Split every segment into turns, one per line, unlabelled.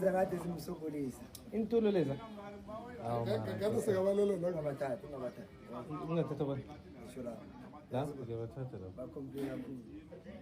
Zakade zimsubulisa. Intulo leza. Awu.
Ngeke sekabalolo lo ngabathatha,
ngabathatha.
Ungathatha bani? Ngisho
la. La
ngiyabathatha la. Bakhompila
kuzo.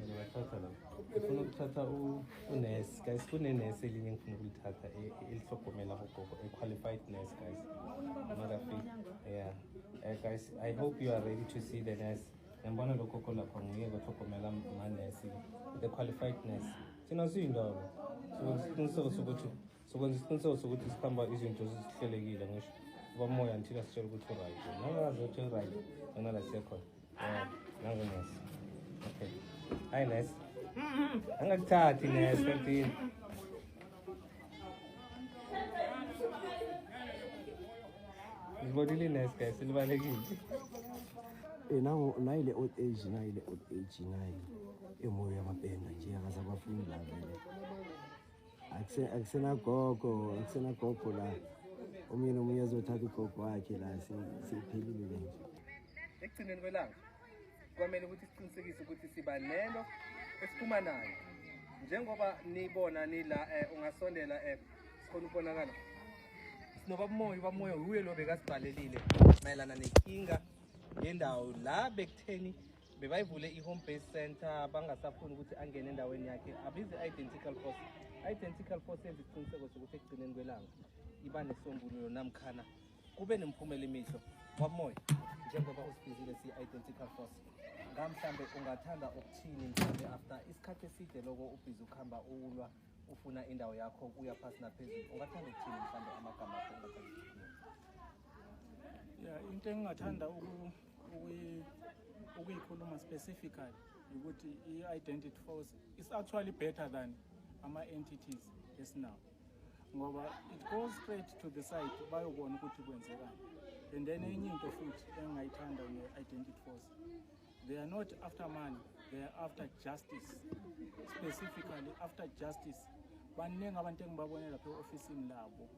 Ngiyabathatha la.
Ufuna ukuthatha u unesi guys, kunenesi elinye ngifuna ukulithatha e, e, elihlogomela abogogo, a qualified nurse guys. Mother fit. Yeah. Uh, guys, I hope you are ready to see the nurse. Ngibona lokho kolapha nguye kohlogomela manesi, the qualified nurse. thina siyindawo sokwenza isiqiniseko sokuthi sokwenza isiqiniseko sokuthi sikhamba izinto zihlelekile ngisho ubamoya until asitshela ukuthi uright nangazi ukuthi uright ngenala siyekhona nange nesi okay hayi nesi angakuthathi nesi kantini Zibonile nice guys, silibalekile.
Eh nangu nayi le old age nayi le old age nayi emoyo yamapenda nje akasabafuni la vele. Akuse akusena gogo, akusena gogo la. Omunye nomunye azothatha ugogo wakhe la siphelile nje. Ekugcineni kwelanga
kwamele ukuthi siqinisekise ukuthi siba nento esiphuma nayo njengoba nibona nila eh, ungasondela eh, sikhona ukubonakala sinobabumoya ubabumoya wuye lo bekasidalelile mayelana nenkinga yendawo la bekutheni bebayivule i-home base center bangasafuni ukuthi angene endaweni yakhe abize i-identical force i-identical force yenza isiqiniseko sokuthi ekugcineni kwelanga iba nesombululo namkhana Kube nemphumela imihle kwamoya njengoba usibizile si-identical force ngamhlambe ungathanda ukuthini mhlawumbe after isikhathi eside loko ubhizi ukuhamba ulwa ufuna indawo yakho uya phasi naphezulu ungathanda ukuthini mhlawumbe amagama akho ungathanda
ya into engingathanda ukuyikhuluma specifically ukuthi i-identity force is actually better than ama-entities esinawo ngoba it goes straight to the site bayobona ukuthi kwenzekani and then enye into futhi engingayithanda nge-identity force they are not after money they are after justice specifically after justice baningi abantu engibabone lapha e-ofisini labo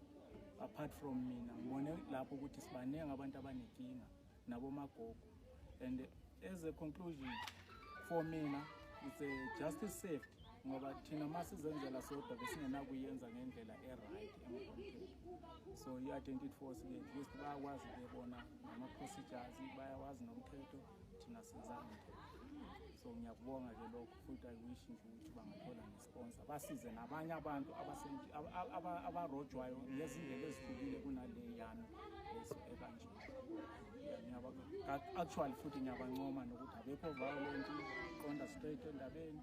apart from mina ngibone lapho ukuthi sibaningi abantu abanenkinga nabomagogo and as a conclusion for mina it's a justice saved ngoba thina ma sizenzela sodwa besingenakuyenza ngendlela e-right emgomtheni so i-identity force ke at least bayakwazi bebona nama-procedures bayawazi nomthetho thina senza umthetho so ngiyakubonga ke lokho futhi i wish nje ukuthi bangathola ngesikhathi ukuphonsa basize nabanye abantu abarojwayo ngezindlela ezihlukile kunaleyana leso ekanje actually futhi ngiyabancoma nokuthi abekho violent qonda straight endabeni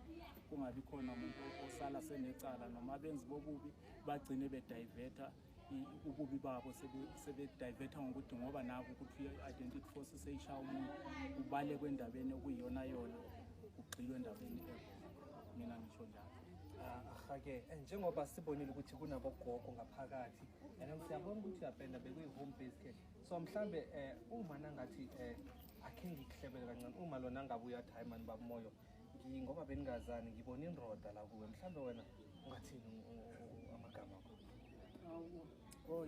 kungabi khona umuntu osala senecala noma benzi bobubi bagcine bediverter ububi babo sebedivetha ngokuthi ngoba naku ukuthi i-identity force seyishaya umuntu ubale kwendabeni okuyiyona yona ugxilwe endabeni ebo mina ngisho njalo ahake
eh, njengoba sibonile ukuthi kunabogogo ngaphakathi and siyabona ukuthi uyapenda bekuyi-home base care so mhlawumbe um eh, uma nangathi um akhe ngikuhlebele kancane uma lona angabe uyathi hayi mani babumoyo ngoba beningazani ngibona inroda la kuwe mhlawumbe wena ungathini amagama akho
oh,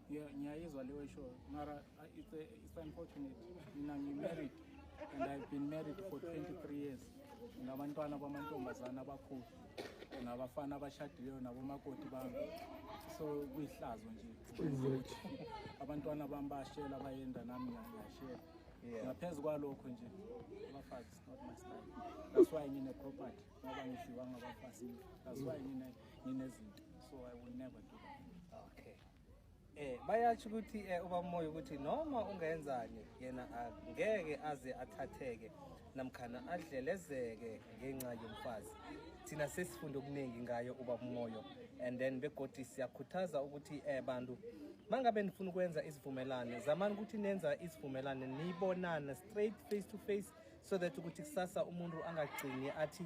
yeah ngiyayizwa leyo show mara uh, it's, a, it's unfortunate mina ngimarried and i've been married for 23 years nabantwana bamantombazane abakhulu nabafana abashadileyo nabomakoti bami so kuyihlazo nje abantwana bami bashela bayenda nami ngiyashela Yeah. Ngaphezu kwalokho nje abafazi is not my style. That's why ngine property ngoba ngidliwa ngabafazi. That's why ngine nginezinto. So I will never do that. Okay.
Eh bayasho ukuthi eh ubamoya ukuthi noma ungenzani yena ngeke aze athatheke namkhana adlelezeke ngenxa yomfazi thina sesifunda okuningi ngayo uba umoyo and then begodi siyakhuthaza ukuthi eh bantu mangabe nifuna ukwenza isivumelane zamani ukuthi nenza isivumelane niyibonane straight face to face so that ukuthi kusasa umuntu angagcini athi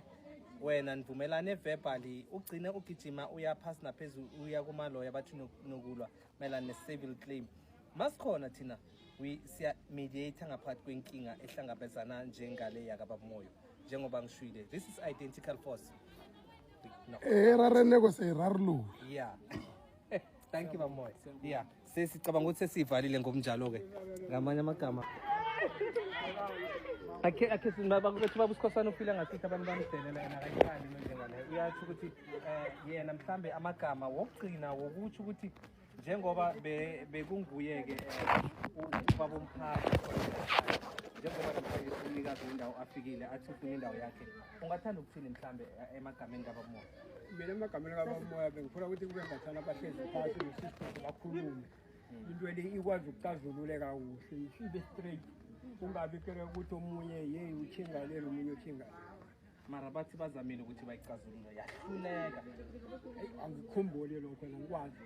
wena nivumelane verbally ugcine ugijima uya phasi naphezulu uya kumaloya bathi nokulwa mayelana ne-civil claim masikhona thina siya mediator ngaphathi kwenkinga ehlangabezana njengale yakababumoyo njengoba ngishwile this is identical force erareneko
eh, seyirarulula yeah
thank you bamoya yeah sesicabanga ukuthi sesiyivalile ngomnjalo-ke ngamanye amagama akhe akhe sinbabakubethi baba usikhosana uphila ngasithi abantu bamdelela yena akayifani njenga leyo uyatsho ukuthi eh yena mhlambe amagama wokugcina wokuthi ukuthi njengoba bekunguye ke eh, ubaba umphathi njengoba namhlanje umnikazi wendawo afikile athi ufuna indawo yakhe ungathanda ukuthini mhlambe eh, emagameni kabamoya mina emagameni
kabamoya bengifuna ukuthi kube ngathana abahlezi phasi nesisisi bakhulume into le ikwazi ukucazululeka kuhle ibe straight kungabi kere ukuthi omunye yeyi uthingalele omunye uthingalele mara bathi
bazamile ukuthi bayicazulule yahluleka
angikhumbuli lokho wena ngikwazi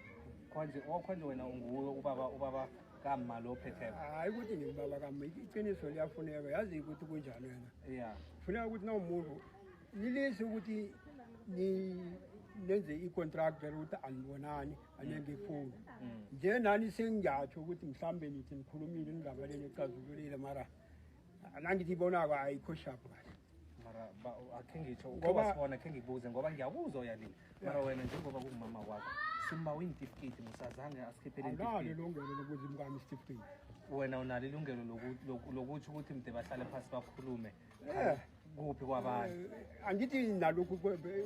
khonje okhonje
oh, wena unguwe ubaba ubaba kama lo phetheyo hayi ukuthi ngibaba
kama iqiniso liyafuneka yazi ukuthi kunjani wena ya funeka ukuthi
nawumuntu
lilisi ukuthi nenze i-contract vele ukuthi anibonani anengifuni mm. mm. nje nani sengiyatsho ukuthi mhlawumbe nithi nikhulumile ningaba leni ecazululile mara nangithi ibonako ayikho shaphu kahle mara
akhe ngitsho uke wasibona akhe ngikubuze ngoba ngiyakuzwa uyalile mara wena njengoba kungumama wakho simba uyintifiketi musazange asikhiphele nalo ilungelo
lokuthi imkami isitifiketi wena unalo
ilungelo lokuthi ukuthi mde bahlale phasi bakhulume kuphi kwabanye eh, angithi nalokhu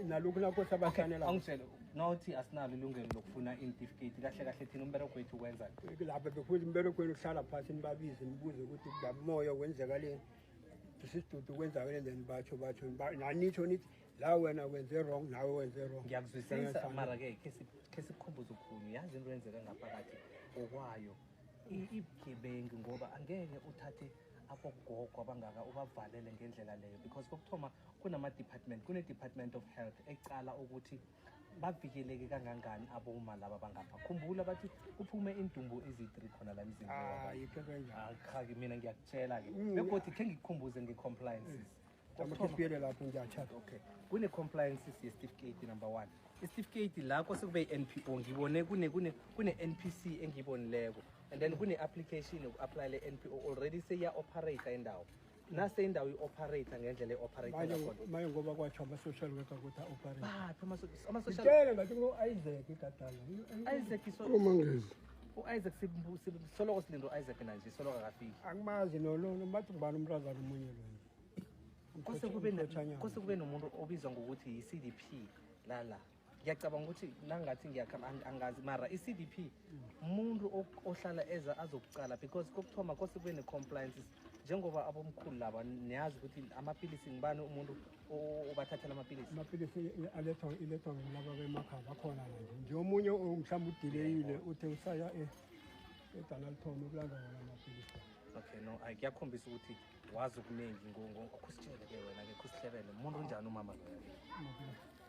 nalokhu nakho sabasanela angitshele nothi
asinalo ilungelo lokufuna intifiketi kahle kahle thina umbereko wethu kwenza lapha bekuthi
umbereko wenu uhlala phasi nibabize nibuze ukuthi bamoya wenzeka leni isidudu kwenzakele then batho batho nanitsho nithi la wena wenze wrong nawe wenze wrong ngiyakuzwisisa mara ke
khe sikhumbuze ukhuni yazi into yenzeka ngaphakathi okwayo ibugebengi ngoba angeke uthathe abogogo abangaka ubavalele ngendlela leyo because kokuthoma kunama-department kune-department of health ecala ukuthi bavikeleke kangangani aboma laba bangapha khumbula bathi kuphume indumbu ezi-three khona la mzimbeakhaki ah, mina ngiyakutshela ke mm. begodi khe ngikukhumbuze nge-compliances amakhipiyele lapho ngiyathatha okay kune-compliances yesitifiketi number one isitifiketi la kwasekube i-n p o ngibone kune-n p c engiyibonileko and then kune-application yoku-aplayela i-n p o already seyiya-operator indawo nase indawo i-operator ngendlela i-operatormaye
ngoba kwatsho ama-social worker ukuthi
a-operateamasocialtele
ngathi ngo-isaac igadalaomangezi
u-isaac soloko silinde u-isaac nanje soloko akafiki angimazi
nomathi ngibani umntazana omunye lo
kose kube nomuntu obizwa ngokuthi yi-c d p lala la. ngiyacabanga ukuthi nangathi ngiyakhamba angazi mara i-cd p umuntu ohlala eza azokucala because kokuthoma kose kube ne-compliances njengoba abomkhulu laba niyazi ukuthi amapilisi ngibani umuntu obathathela amapilisi amapilisi
alethwa ilethwa ngilaba bemakhaya bakhona nje nje omunye mhlawumbe udileyile uthe usaya e, edalalithomi ukulanda wona amapilisi okay no ay
kuyakhombisa ukuthi wazi okuningi ngokhusitshele ke wena-ke khusihlebele umuntu unjani umama loyo